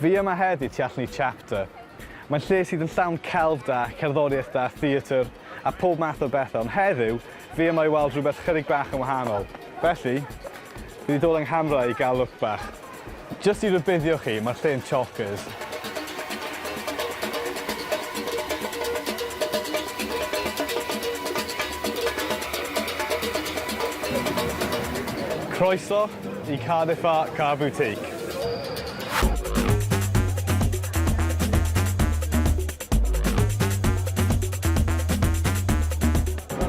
Fi yma heddi tu allan i Chapter. Mae'n lle sydd yn llawn celf da, cerddoriaeth da, theatr, a phob math o bethau, ond heddiw, fi yma i weld rhywbeth chydig bach yn wahanol. Felly, fi wedi dod yng nghamera i gael look bach. Jyst i rybuddio chi, mae'r lle yn chockers. Croeso. Y Cardiff Art Car Boutique.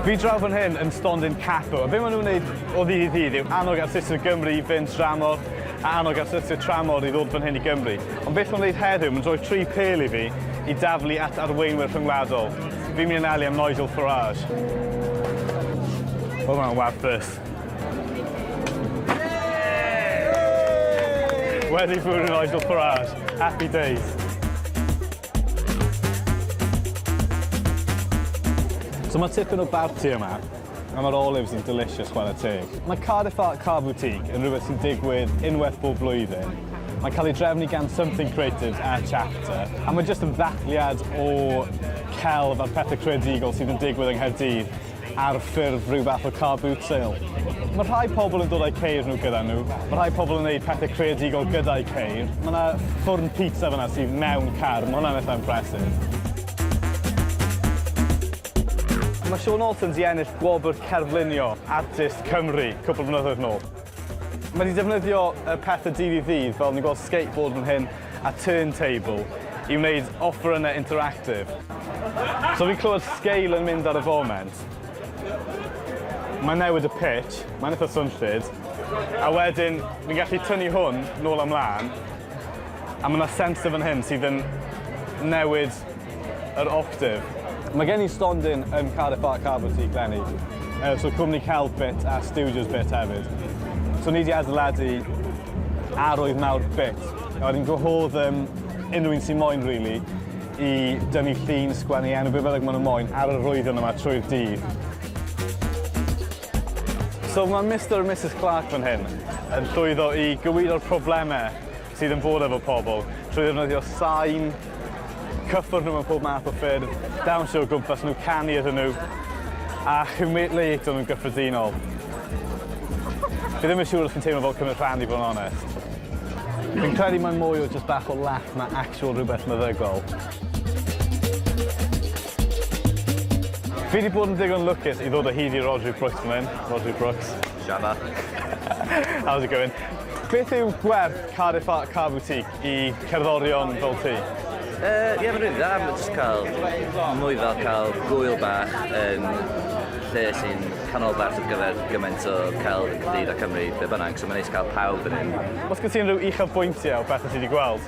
Fi draw fan hyn yn Stondin Capo, a be maen nhw'n gwneud o ddydd i ddydd yw annog artistiaid o Gymru i fynd dramor, a annog artistiaid tramor i ddod fan hyn i Gymru. Ond beth mae'n gwneud heddiw, mae'n rhoi tri pel i fi i daflu at arweinwyr rhyngwladol. Fi'n mynd yn ali am Nigel Farage. Oedd hwnna'n wath byth. Wedi bod yn oedl parade. Happy days. So mae tipyn o barti yma, a mae'r olives yn delicious chwarae teg. Mae Cardiff Art Car Boutique yn rhywbeth sy'n digwydd unwaith bob blwyddyn. Mae'n cael ei drefnu gan Something Creatives a Chapter, a mae jyst yn ddathliad o celf a pethau creadigol sydd yn digwydd yng Nghaerdydd ar ffurf rhyw fath o car boot sale. Mae rhai pobl yn dod â'u ceir nhw gyda nhw, mae rhai pobl yn gwneud pethau creadigol gyda'u ceir. Mae yna ffwrn pizza fyna sydd mewn car, mae hwnna'n eitha' impressive. Mae Sean Alton 'di ennill gwobr Cerflunio Artist Cymru cwpl o flynyddoedd nôl. Mae 'di defnyddio y pethe dydd i ddydd, fel ni'n gweld skateboard fan hyn, a turntable i wneud offerynnau interactive. So fi'n clywed sgeil yn mynd ar y foment. Mae'n newid y pitch, mae'n eitha swnllyd, a wedyn fi'n gallu tynnu hwn nôl a mlaen, a mae yna sensor fan hyn sydd yn newid Yr Octave. Mae gen i stondin yn Cardiff Art Car Boutique leni, yy so cwmni celf bit a studios bit hefyd. So ni 'di adeiladu arwydd mawr bit, a wedyn gwahodd yym unrhyw un sy moyn rili i dynnu llun, sgwennu enw, be' bynnag ma' nw moyn ar yr arwyddion yma trwy'r dydd. So ma' Mister a Misus Clarke fan hyn yn llwyddo i gywiro'r probleme sydd yn bod efo pobl trwy ddefnyddio sain, cyffwrdd nhw mewn pob math o ffyrdd, dawnsio o gwmpas nhw, canu iddyn nhw, a humiliato nhw'n gyffredinol. Fi ddim yn siŵr os fi'n teimlo fel cymryd rhan i fod yn onest. Fi'n credu mae'n mwy o just bach o laff na actual rhywbeth meddygol. Fi wedi bod yn digon lwcus i ddod o hyd i Rhodri Brooks fan hyn, Rhodri Brooks. Shana. How's it going? Beth yw gwerth Car de Fat Car Boutique i cerddorion fel ti? Yy ie mae'n rili dda ma' jyst cael mwy fel cael gŵyl bach yn lle sy'n canolbarth ar gyfer gymaint o celf yn Caerdydd a Cymru be' bynnag so ma'n neis cael pawb fan 'yn. Os gen ti unrhyw uchafbwyntiau o bethe ti 'di gweld?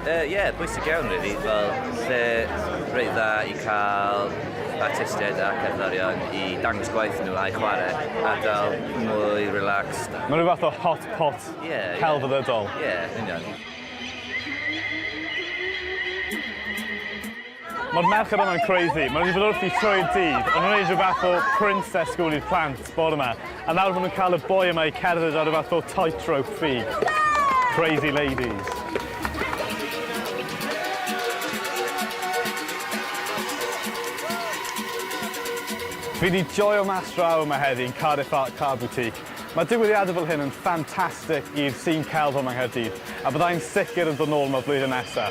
Yy ie, yeah, bwysig iawn rili, fel lle reit dda i cael artistiaid a cerddorion i dangos gwaith nhw a'i chwarae, ardal mwy relaxed. Mae'n rhyw fath o hot pot yeah, celfyddydol. Ie, yeah. yeah, union. Mae'r merched yma'n crazy. Maen nhw wedi bod wrthi trwy'r dydd. O'n nhw'n gwneud rhyw fath o princess school i'r plant bore yma. A nawr maen nhw'n cael y boi yma i cerdded ar rhyw fath o tightrope ffug. Crazy ladies. Fi wedi joio mas draw yma heddi yn Cardiff Art Car Boutique. Mae digwyddiadau fel hyn yn ffantastig i'r scene celf yma yng Nghaerdydd, a bydda i'n sicr yn dod nôl yma flwyddyn nesa.